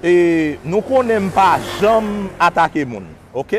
E nou konnen m pa janm atake moun ok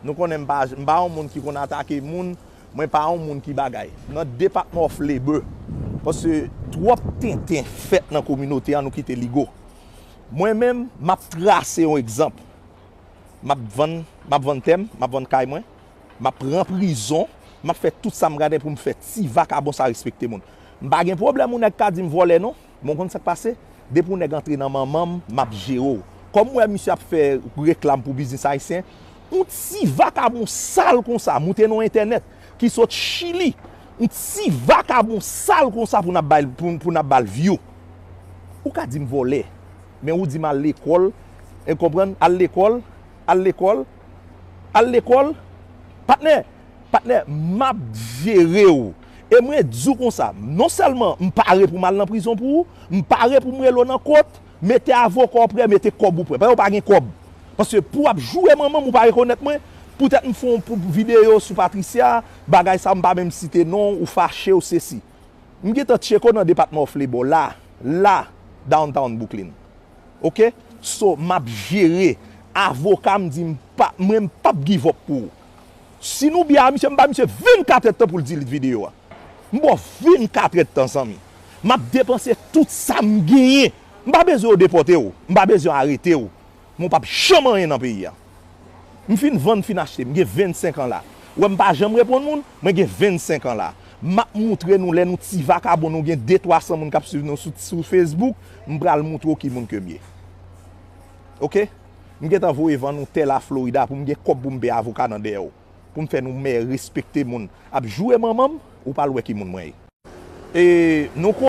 nou konnen m pa m pa yon moun ki konn atake moun mwen pa yon moun ki bagay nan depatman of labor paske twòp tenten fèt nan kominote an nou kite li go mwen menm m ap trase yon egzanp m ap vann m ap vann tè m m ap vann kay mwen m ap pran prizon m ap fè tout sa m gadyen pou m fè ti vakabon sa respekte moun m pa gen pwoblèm yon nèg ka di m vòlè non. Bon konn sak pase, depi yon nèg antre nan manmanm map jere w. Kòm m wè misye ap fè reklam pou biznis ayisyen, yon ti vakabon sal konsa moute nan entènèt ki sot chili, yon ti vakabon sal konsa pou n ap bal view. Ou ka di m vòlè, men ou di m al lekòl, konprann, al lekòl, al lekòl. Al lekòl Patnè Patnè m ap jere w E mwen di w konsa Non sèlman m pare pou m al nan prizon pou ou M pare pou m rele w nan kot Mete avoka w prè Mete kòb ou prè Paske ou pa gen kòb Paske pou w ap joure manman m ou pa rekonèt mwen Poutèt m fon videyo sou Patricia Bagay sa a m pa menm site non w Ou fache ou sesi M gentan tcheke w nan depatman w Flebaw la La Downtown Bwouklin ok so map jere avokam di mpa mwen mpap give up pou ou si nou byen a misye mba misye 24 èd tan poul delete video a mbaw 24 èd tan zanmi map depanse tout sam genyen mpa bezwen yo depòtew mpa bezwen yo aretew men ou pap janm anyen nan peyi a. M fin vann m fin achte m gen 25 an la ou wè m pa janm reponn moun mwen gen 25 an la map moutre nou lè nou ti vakabon nou gen de 300 moun kap swiv nou sou facebook m pral moutre w ki moun ke m ye ok m gentan voye vann ou tè la florida pou m gen kòb pou m peye avoka nan dèyè w pou m fè nou mè respekte moun ap joure manman m ou pral wè ki moun mwen ye e nou.